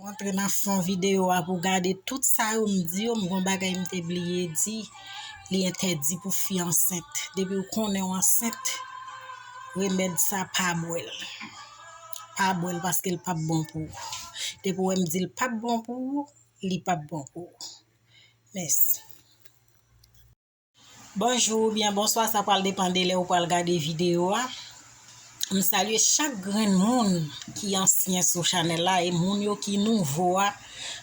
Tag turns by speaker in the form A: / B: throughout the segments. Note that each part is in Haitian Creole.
A: Rantre nan fon videyo a pou w gade tout sa yo m di yo. M gen yon bagay m te bliye di. Li entèdi pou fi ansent. Depi ou konnen ou ansent, remèd sa pa bwè l. Pa bwè l paske l pap bon pou ou. Depi ou wè m di l pap bon pou ou, li pap bon pou ou. Mèsi. Bonjou oubyen bonswa sa pral depan de lè ou pral gade video a, m salye chak grenn moun ki ansyen sou chanèl la e moun yo ki nouvo a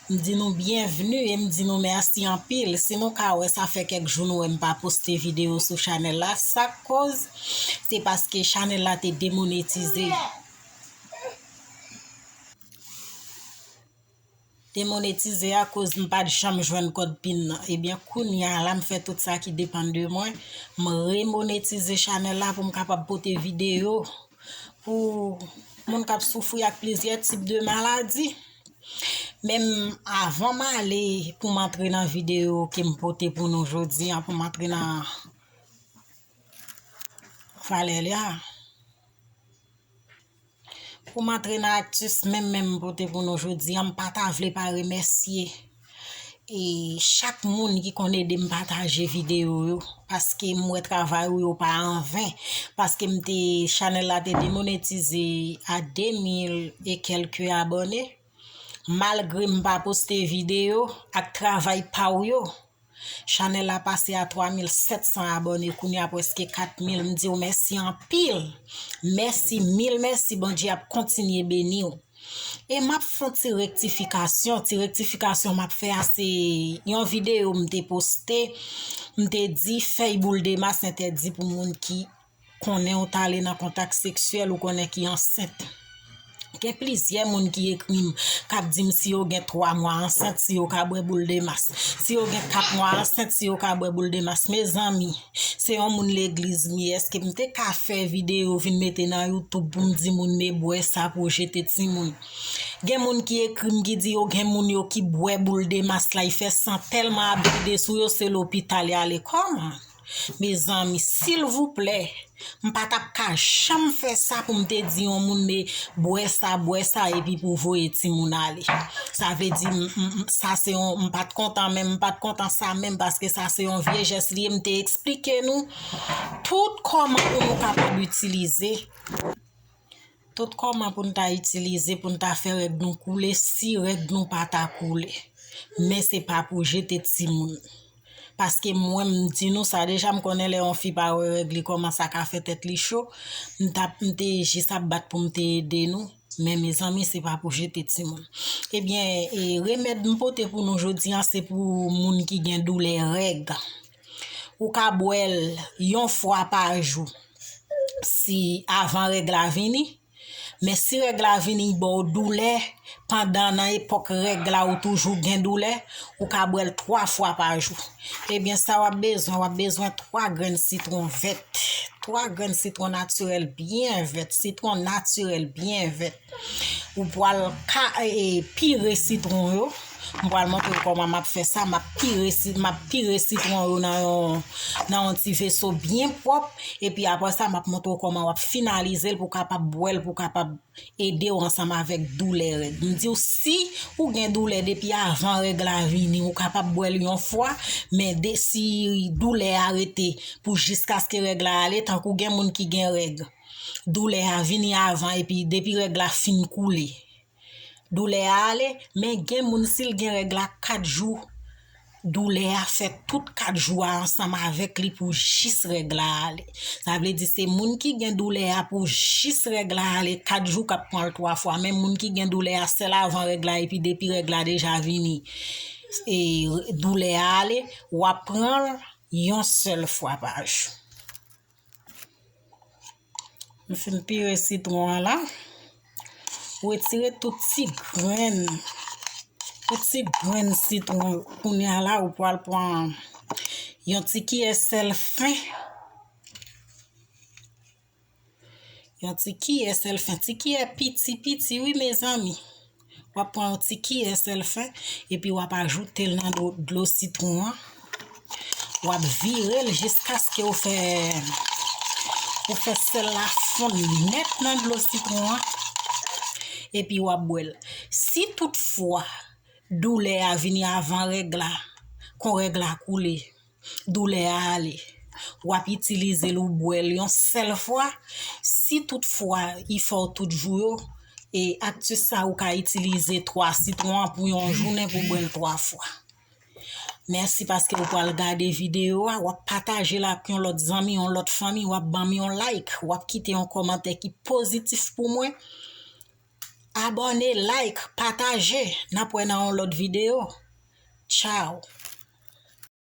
A: m di nou byenvni e m di nou mèsi anpil si nou ka wè sa fè kèk jou nou wè m pa poste video sou chanèl la sak koz se paske chanèl la te demonetize. demonetize a koz m pat janm jwenn kòd pin nan ebyen kounya la m fè tout sa ki depann de mwen m remonetize chanèl la pou m kapab pote videyo pou moun kap soufri ak plizyè tip de maladi menm avan m ale pou m antre nan videyo ke m pote pou nou jodi an pou m antre nan valè li a. Poum antre nan actus menm menm m pote pou nou jodi an m pa ta vle pa remèsye e chak moun ki konn ede m pataje video yo paske m wè travay ou yo pa anven paske m te chanèl la te demonetize a 2000 e kelke abòne malgre m pa poste video ak travay pa ou yo Chanel la pase a 3700 abòne kounya preske 4000 m diw mèsi anpil mèsi mil mèsi Bondye ap kontinye beniw e map fon ti rektifikasyon ti rektifikasyon map fè a se yon videyo m te poste m te di fèy boul dema se entèdi pou moun ki konnen ou t ale nan kontak seksyèl ou konnen ki ansent. Gen plizyè moun ki ekri m, k ap di m si yo gen 3 mwa ansent, si yo ka bwè boul de mas. Si yo gen 4 mwa ansent, si yo ka bwè boul de mas. Mezanmi, se yon moun legliz m ye, èske m te ka fè videyo vin mete nan Youtube pou m di moun me bwè sa pou w jete timoun? Gen moun ki ekri m ki di yo gen moun yo ki bwè boul de mas la, y fè san tèlman ap vide sou yo se lopital y ale. Kòman? Mezanmi silvouplè m pa tap ka janm fè sa pou m te di yon moun me bwè sa bwè sa epi pou voye timoun ale sa vle di sa se yon m pat kontan menm m pat kontan sa menm paske sa se yon vye jès li ye m te eksplike nou tout kòman pou nou kapab itilize Tout kòman pou n ta itilize pou n ta fè règ nou koule si règ nou pa ta koule. Men se pa pou jete timoun. Paske mwen m di nou sa deja m konnen lè yon fi pa wè règ li kòman sa ka fè tèt li cho. M ta m te jis ap bat pou m te ede nou. Men mezanmi se pa pou jete timoun. Ebyen e remèd m pote pou nou jodi an se pou moun ki gen doulè règ. Ou ka bwè l yon fwa pa jou si avan règ la vini, men si règ la vini y ba w doulè pandan nan epòk règ la ou toujou gen doulè, ou ka bwè l 3 fwa pa jou. Ebyen sa w ap bezwen, w ap bezwen 3 grenn sitwon vèt, 3 grenn sitwon natirèl byen vèt, sitwon natirèl byen vèt. Ou pwal ka e pire sitron yo, m pwal montre w kòman map fè sa, map pire si map pire sitron yo nan yon nan yon ti veso byen pwòp epi apre sa map montre w kòman wap finalize l pou kapab bwè l pou kapab ede w ansanm avèk doulè règ. M di w si ou gen doulè depi avan règ la vini ou kapab bwè l yon fwa men de si doulè a rete pou jiskaske règ la ale tankou gen moun ki gen règ. doulè a vini avan epi depi règ la fin koule doulè a ale men gen moun sil gen règ la 4 jou doulè a fè tout 4 jou a ansanm avèk li pou jis règ la ale sa vle di se moun ki gen doulè a pou jis règ la ale 4 jou kap pran l 3 fwa men moun ki gen doulè a sèl avan règ la epi depi règ la deja vini e doulè a ale wap pran l yon sèl fwa pa jou. M fin pire sitron an la. Wetire tout ti grenn. Tout ti grenn sitron yo. Kounye a la ou pwal pwan yon ti kiyè sèl fen. Yon ti kiyè sèl fen. Ti kiyè piti piti wi mezanmi. Wap pran yon ti kiyè sèl fè epi wap ajoutel nan dlo sitron an. Wap virel jiskaske ou fè ou fè sèl la fonn nèt nan dlo sitron an epi wap bwèl. Si tout fwa doulè a vini avan règ la, kon règ la koule. Doulè a ale. W ap itilize l ou bwè l yon sèl fwa. Si tout fwa i fè w tout jou yo, e aktis sa ou ka itilize 3 sitwon an pou yon jounen pou bwè l 3 fwa. Mèsi paske ou pral gade videyo a, w ap pataje l ak yon lòt zanmi, yon lòt fanmi, w ap ban m yon like, w ap kite yon kòmantè ki pozitif pou mwen. Abòne, like, pataje. N ap wè nan yon lòt videyo. Tchao!